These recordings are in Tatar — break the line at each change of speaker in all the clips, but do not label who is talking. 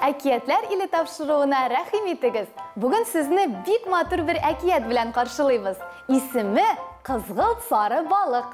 Әкиятләр иле тапшыруына рәхим итегез. Бүген сезне бик матур бер әкият белән каршылыйбыз. Исеме Кызгылт сары балык.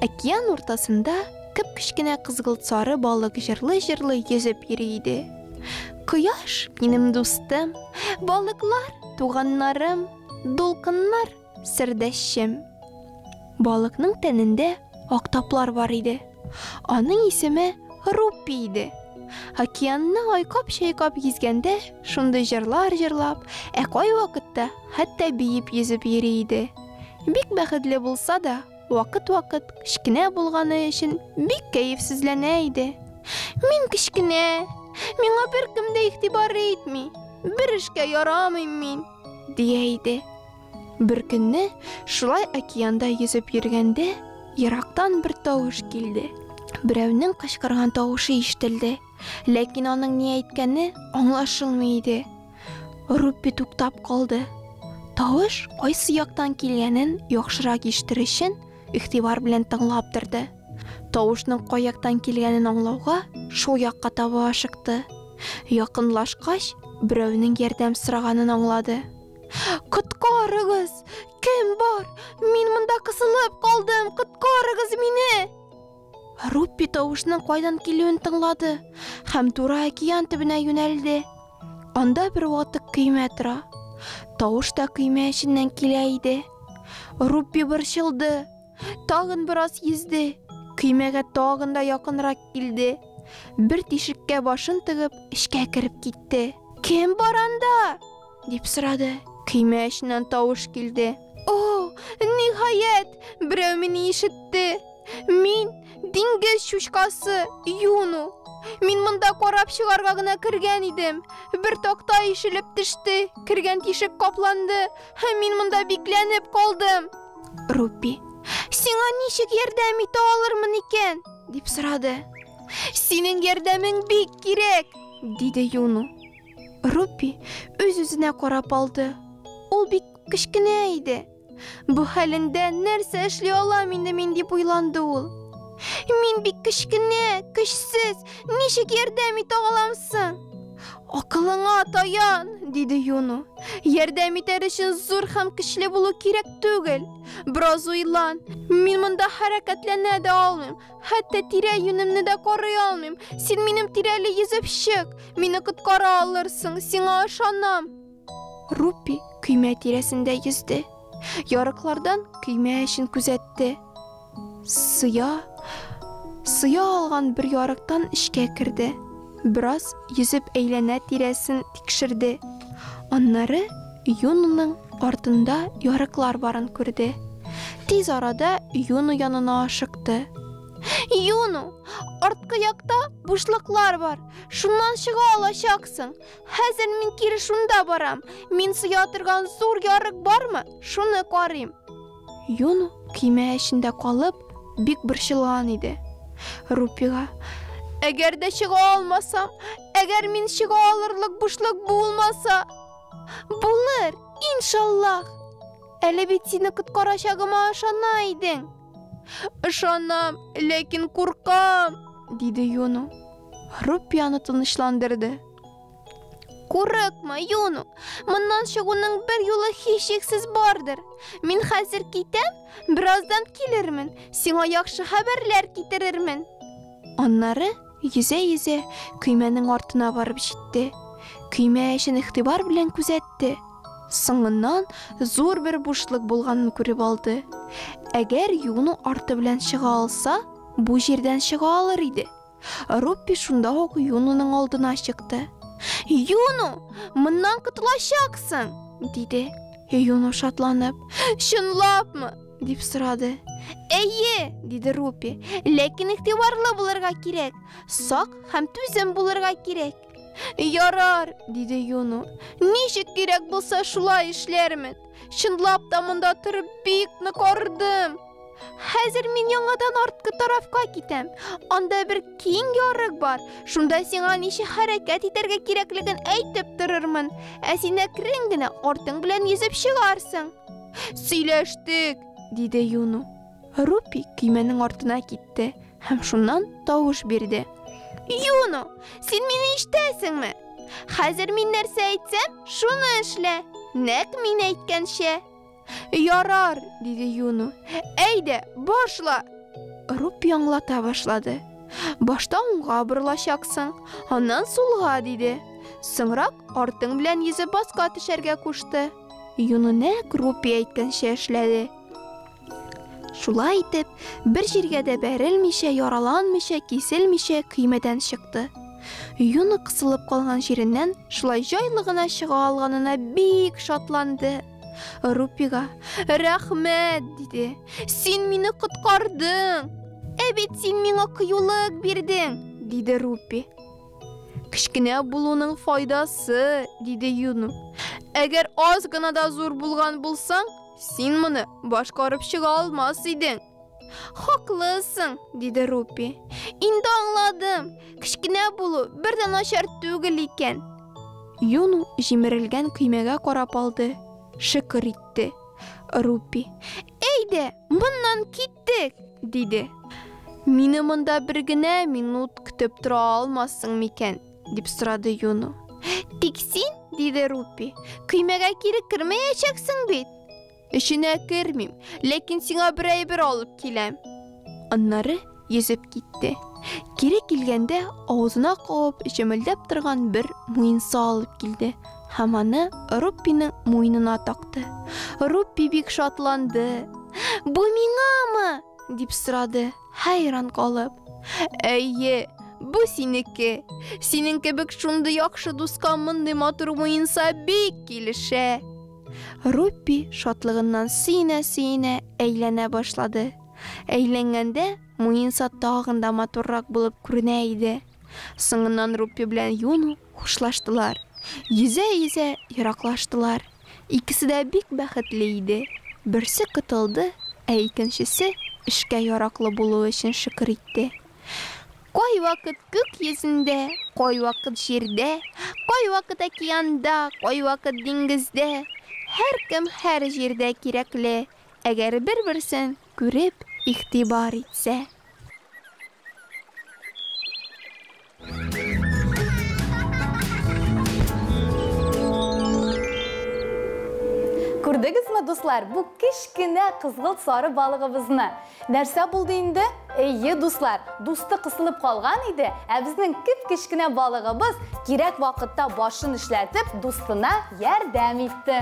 Океан уртасында кып кечкенә кызгылт сары балык җырлы-җырлы йөзеп йөри иде. Кояш минем дустым, балыклар туганнарым, дулкыннар Сердәшчем. Балыкның тәнендә актаплар бар иде. Аның исеме Руппи иде. Океанны айкап-чайкап йөзгәндә, шундый җырлар җырлап, ә кай вакытта хәтта биеп йөзеп йөри иде. Бик бәхетле булса да, вакыт-вакыт кечкенә булганы өчен бик кәефсезләнә иде. Мин кечкенә, миңа беркем дә игътибар итми, бер эшкә ярамыйм мин, дия иде. Бер көнне шулай океанда йөзеп йөргәндә, ерактан бер тавыш килде. Берәүнең кычкырган тавышы ишетелде, ләкин аның ни әйткәне аңлашылмый иде. Руппи туктап калды. Тавыш кайсы яктан килгәнен яхшырак ишетер өчен игътибар белән тыңлап торды. Тавышның кай яктан килгәнен аңлауга шул якка таба ашыкты. Якынлашкач, берәүнең ярдәм сораганын аңлады. Коткарыгыз! Кем бар? Мин монда кысылып калдым! Коткарыгыз мине! Руппи тавышның кайдан килүен тыңлады һәм туры океан төбенә юнәлде. Анда бер ватык көймә тора. Тавыш та көймә эченнән килә иде. Руппи борчылды. Тагын бераз йөзде. Көймәгә тагын да якынрак килде. Бер тишеккә башын тыгып, эчкә кереп китте. Кем бар анда? Дип сорады. Көймә эченнән тавыш килде. О, ниһаять, берәү мине ишетте. Мин диңгез чучкасы Юну. Мин монда карап чыгарга гына кергән идем. Бер такта ишелеп төште, кергән тишек капланды. Һәм мин монда бикләнеп калдым. Рупи, сиңа ничек ярдәм итә алырмын икән? дип сорады. Синең ярдәмең бик кирәк, диде Юну. Руппи үз-үзенә карап алды. Ул бик кечкенә иде. Бу хәлендә нәрсә эшли алам инде мин дип уйланды ул. Мин бик кечкенә, көчсез, ничек ярдәм итә алам соң? Акылыңа таян, диде Юну. Ярдәм итәр өчен зур һәм көчле булу кирәк түгел. Бераз уйлан. Мин монда хәрәкәтләнә дә алмыйм. Хәтта тирә-юнемне дә карый алмыйм. Син минем тирәле йөзеп чык. Мине коткара алырсың, сиңа ышанам. Рупи көймә тирәсендә йөзде. Ярыклардан көймә эчен күзәтте. Сыя, сыя алган бер ярыктан эчкә керде. Бераз йөзеп әйләнә тирәсен тикшерде. Аннары Юноның артында ярыклар барын күрде. Тиз арада Юно янына ашыкты. Юно, арткы якта бушлыклар бар, шуннан чыга алачаксың. Хәзер мин кире шунда барам, мин сыя торган зур ярык бармы, шуны карыйм. Юно көймә эчендә калып, бик борчылган иде. Рупига, Әгәр дә чыга алмасам, әгәр мин чыга алырлык бушлык булмаса? Булыр, иншаллах. Әле бит сине коткарачагыма ышана идең. Ышанам, ләкин куркам, диде Юну. Рупияны тынычландырды. Курыкма, Юну. Моннан чыгуның бер юлы һичшиксез бардыр. Мин хәзер китәм, бераздан килермен. Сиңа яхшы хәбәрләр китерермен. Аннары Йөзә-йөзә, көймәнең артына барып җитте. Көймә эчен игътибар белән күзәтте. Соңыннан зур бер бушлык булганын күреп алды. Әгәр юыну арты белән чыга алса, бу җирдән чыга алыр иде. Руппи шунда ук юынуның алдына чыкты. Юыну, моннан котылачаксың! диде. Юыну шатланып. Чынлапмы? Дип сорады. Әйе, диде Рупи. Ләкин игътибарлы булырга кирәк. Сак һәм түзем булырга кирәк. Ярар, диде Юну. Ничек кирәк булса шулай эшләрмен. Чынлап та монда торып бик нык ардым. Хәзер мин яңадан арткы тарафка китәм. Анда бер киң ярык бар. Шунда сиңа ничек хәрәкәт итәргә кирәклеген әйтеп торырмын. Ә син әкрен генә артың белән йөзеп чыгарсың. Сөйләштек, диде Юну. Рупи көймәнең артына китте һәм шуннан тавыш бирде. Юну, син мине ишетәсеңме? Хәзер мин нәрсә әйтсәм, шуны эшлә. Нәк мин әйткәнчә. Ярар, диде Юну. Әйдә, башла. Руп яңлата башлады. Башта уңга борылачаксың, аннан сулга, диде. Соңрак артың белән йөзеп баска төшәргә кушты. Юнунәк Рупи әйткәнчә эшләде. Шулай итеп, бер җиргә дә бәрелмичә, яраланмичә, киселмичә көймәдән чыкты. Юны кысылып калган җиреннән шулай җайлы гына чыга алганына бик шатланды. Рупига, рәхмәт, диде. Син мине коткардың. Ә бит син миңа кыюлык бирдең, диде Рупи. Кечкенә булуның файдасы, диде Юну. Әгәр аз гына да зур булган булсаң, син моны башкарып чыга алмас идең. Хаклысың, диде Рупи. Инде аңладым. Кечкенә булу бер дә начар түгел икән. Юну җимерелгән көймәгә карап алды, шөкер итте. Рупи. Әйдә, моннан кит Киттек! диде. Мине монда бер генә минут көтеп тора алмассың микән? дип сорады Юну. Тик син, диде Рупи, көймәгә кире кермәячәксең бит. Эченә кермим, ләкин сиңа бер әйбер алып киләм. Аннары йөзеп китте. Кире килгәндә, авызына кабып, җемелдәп торган бер муенса алып килде. Һәм аны Руппиның муенына такты. Руппи бик шатланды. Бу миңамы? дип сорады, хәйран калып. Әйе, бу синеке. Синең кебек шундый яхшы дуска мондый матур муенса бик килешә. Руппи шатлыгыннан сөенә-сөенә әйләнә башлады. Әйләнгәндә муенса тагын да матуррак булып күренә иде. Соңыннан Руппи белән Юну Хушлаштылар. Йөзә-йөзә ераклаштылар. Икесе дә бик бәхетле иде. Берсе котылды, ә икенчесе, эшкә яраклы булуы өчен шөкер итте. Кайвакыт күк йөзендә, кайвакыт җирдә, кайвакыт океанда, кайвакыт диңгездә, һәркем һәр җирдә кирәкле, әгәр бер-берсен Күреп, игътибар итсә. Күрдегезме, дуслар, бу кечкенә кызгылт сары балыгыбызны? Нәрсә булды инде? Әйе, дуслар, дусты кысылып калган иде, ә безнең кеп-кечкенә балыгыбыз кирәк вакытта башын эшләтеп, дустына ярдәм итте.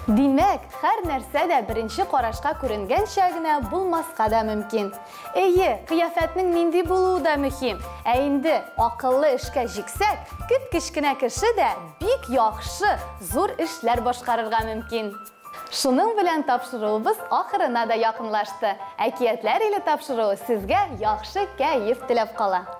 Димәк, хәр нәрсә дә беренче карашка күренгәнчә генә булмаска да мөмкин. Эйе, кыяфәтнең нинди булуы да мөһим. Ә инде акыллы эшкә җиксәк, кеп-кечкенә кеше дә бик яхшы, зур эшләр башкарырга мөмкин. Шуның белән тапшыруыбыз ахырына да якынлашты. Әкиятләр иле тапшыруы сезгә яхшы кәеф теләп кала.